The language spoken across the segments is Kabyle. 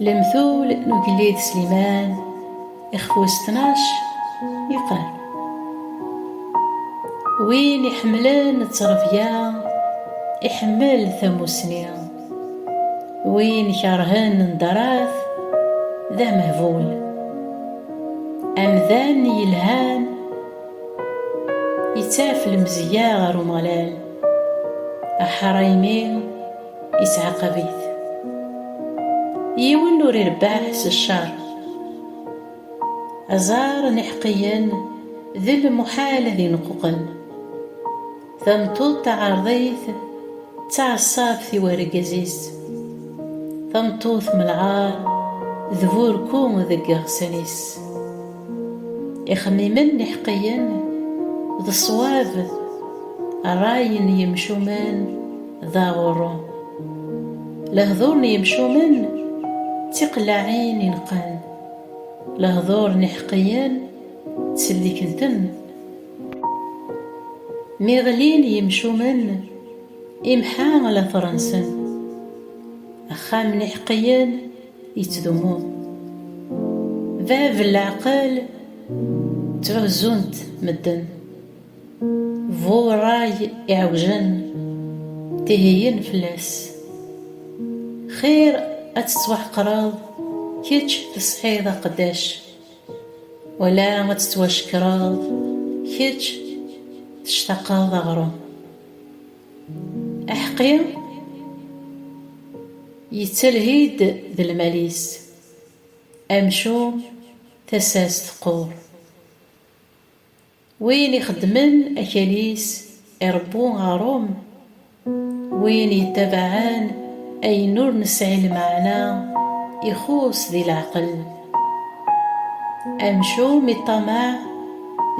Lemtul n ugellid Sliman ixfus tnac yeqqar Win iḥemmlen ttrebya iḥemmel tamusni Win ikerhen nderat d amehbul Amdan yelhan Ittaf lemzeyya ɣer Umeɣlal, aḥṛaymi ittɛaqab-it. Yiwen ur irebbeḥ s cceṛ. Aẓar n iḥeqqiyen d lmuḥal ad ineqquqen. Tameṭṭut taɛerḍit d taɛeṣṣabt i wergaz-is. Tameṭṭut m lɛar d burku deg yiɣsan-is. Ixemmimen n iḥeqqiyen d ṣṣwab, rray n yimcumen d aɣurru. Lehdur n yimcumen d tiqellaɛin ineqqen, lehdur n iḥeqqiyen ttselliken-ten. Mi ɣlin yimcumen, imḥa later-nsen. Axxam n iḥeqqiyen yettdumu. Bab n leɛqel ttɛuzzun-t medden. Bu rray iɛewjen, tiheyyen fell-as. Xir ad tettwaḥeqreḍ kečč tesɛiḍ aqeddac Wala ad tettwacekkreḍ kečč tectaqeḍ aɣrum. Aḥeqqi yettalhi-d d lmal-is, amcum tasa-s teqqur. Win ixeddmen akal-is irebbu aɣrum, win yettabaɛen ayen ur nesɛi lmeɛna ixuṣ di leɛqel. Amcum iṭṭamaɛ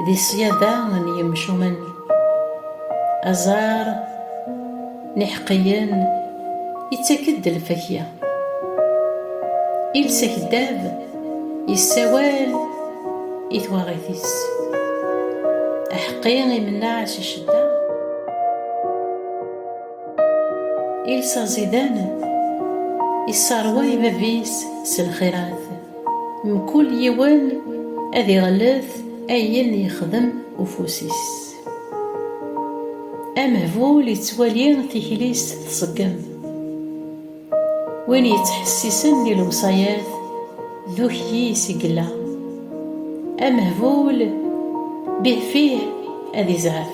di ṣṣyada n yemcumen, aẓar. n iḥeqqiyen ittak-d lfakya. Iles akeddab yessawal i twaɣit-is. Aḥeqqi imennaɛ si ccedda. Iles aẓidan isserway bab-is s lxirat. Mkul yiwen ad iɣellet ayen yexdem ufus-is. Amehbul yettwali tikli-s tṣeggem. Win yettḥessisen di lewṣayat d ukyis i yella. Amehbul bihfih ad izɛef.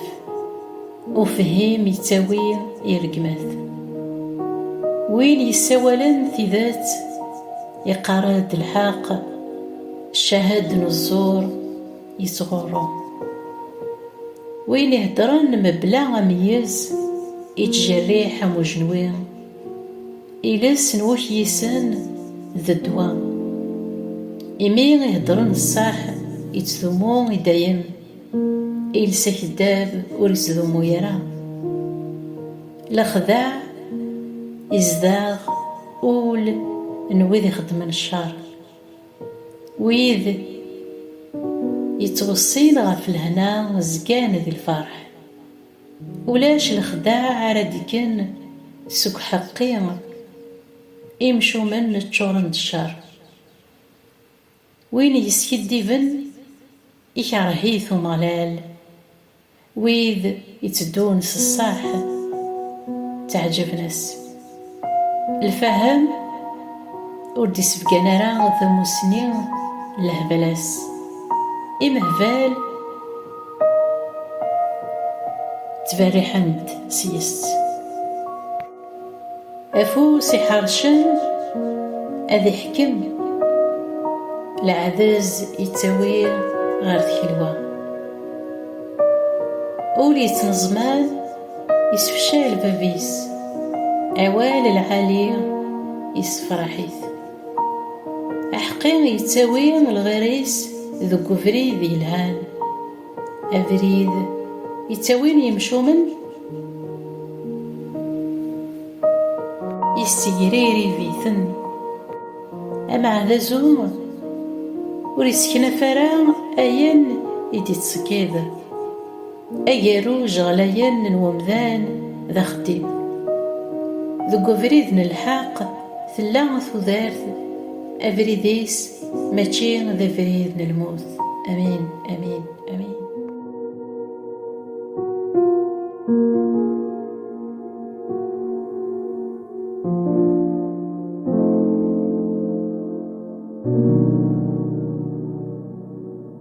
Ufhim yettawi i rregmat. Win yessawalen tidet iqqar-d lḥeqq, cahad n ẓẓur. yettɣurru. Win iheddren mebla ameyyez, ittjerriḥ am ujenwi. Iles n wukyisen d ddwa. Imi i heddren ṣṣeḥ, ittdumu i dayem. Iles akeddab ur ittdumu ara. Lexdeɛ izdeɣ ul n wid ixeddmen ccer. Wid yettweṣṣin ɣef lehna zgan di lferḥ, ulac lexdeɛ ara d-ikken seg uḥeqqi, imcumen ččuren d ccer, win yeskiddiben ikerreh-it Umeɣlal, Wid iteddun s ṣṣeḥ ttaɛǧaben-as. Lfahem ur d-isebgan ara tamussni n lehbal-as. Imehbal ttberriḥen-d sys. Afus iḥercen ad iḥkem, leɛdez yettawi ɣer tkelwa. Ul yettneẓman yessefcay lbab-is, awal lɛali yessefraḥ-it. Aḥeqqi yettawi lɣir-is deg ubrid yelhan. Abrid yettawin yemcumen yessegririb-iten ameɛd azum ur yesseknaf ara ayen i d-yettṣeggid agerruj ɣlayen n umdan d axeddim deg ubrid n lḥeqq Tella tudert abrid-is mačči d abrid n lmut. Amin, amin, amin.